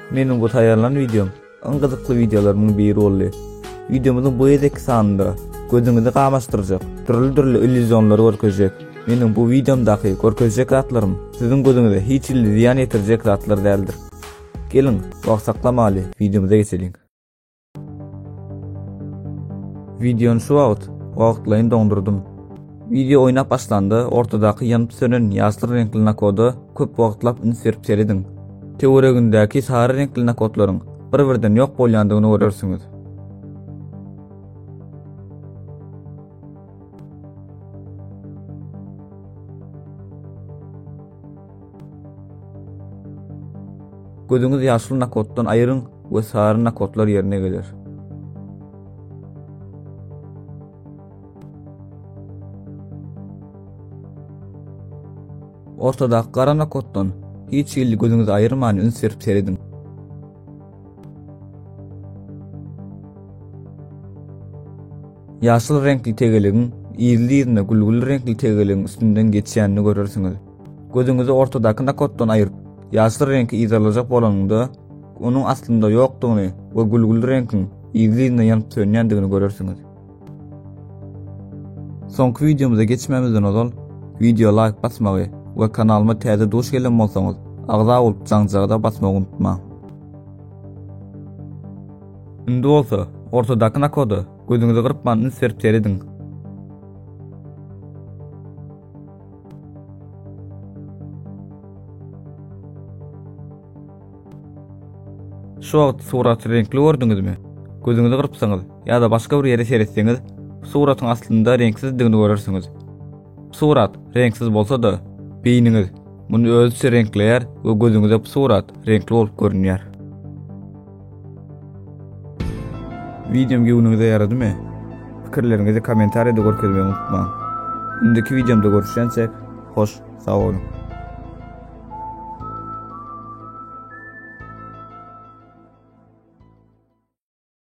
Meniň bu taýýarlan wideom iň gyzykly wideolarymyň biri boldy. Wideomyzyň bu gezekki sanynda gözüňizi gamaşdyrjak dürli-dürli illýuzionlary görkezjek. Meniň bu wideomdaky görkezjek zatlarym siziň gözüňize hiç hilli zyýan ýetirjek zatlar däldir. Geliň, wagt saklamaly, wideomyza geçeliň. Videony şu wagt wagtlaýyn doňdurdym. Video oýnap başlanda ortadaky ýanyp sönen ýaşyl reňkli nakoda köp wagtlap üns berip serediň. Töweregindäki sary reňkli nakodlaryň bir-birden ýok bolýandygyny görersiňiz. Gözüňiz ýaşyl nakoddan aýryň we sary nakotlar ýerine geler. Ortadaky gara nakotdan hiç hili gözüňizi aýyrman üns berip serediň. Ýaşyl reňkli tegeligiň ýerli ýerine gülgüli reňkli tegeligiň üstünden geçýänini görersiňiz. Gözüňizi ortadaky nakotdan aýyryp, ýaşyl reňki yzarlajak bolanyňda, onuň aslynda ýokdugyny we gülgüli reňkiň yzly-yzyna ýanyp-sönýändigini görersiňiz. Soňky wideomyza geçmezden ozal, wideoa laýk basmagy we kanalyma täze duş gelen bolsaňyz, agza bolup jaňjagada basmagy unutmaň. Indi bolsa, ortadaky nakoda gözüňizi gyrpman üns berip serediň. Şu wagt suraty reňkli gördüňizmi? Gözüňizi gyrpsaňyz ýa-da başga bir ýere seretseňiz, suratyň aslynda reňksizdigini görersiňiz. Surat reňksiz bolsa-da, beýniňiz muny özüçe reňkleýär we gözüňize surat reňkli bolup görünýär. Videom göwnüňize ýaradymy? Pikirleriňizi kommentariýada görkezmegi unutmaň. Indiki videomda görüşýänçek, hoş, sag boluň.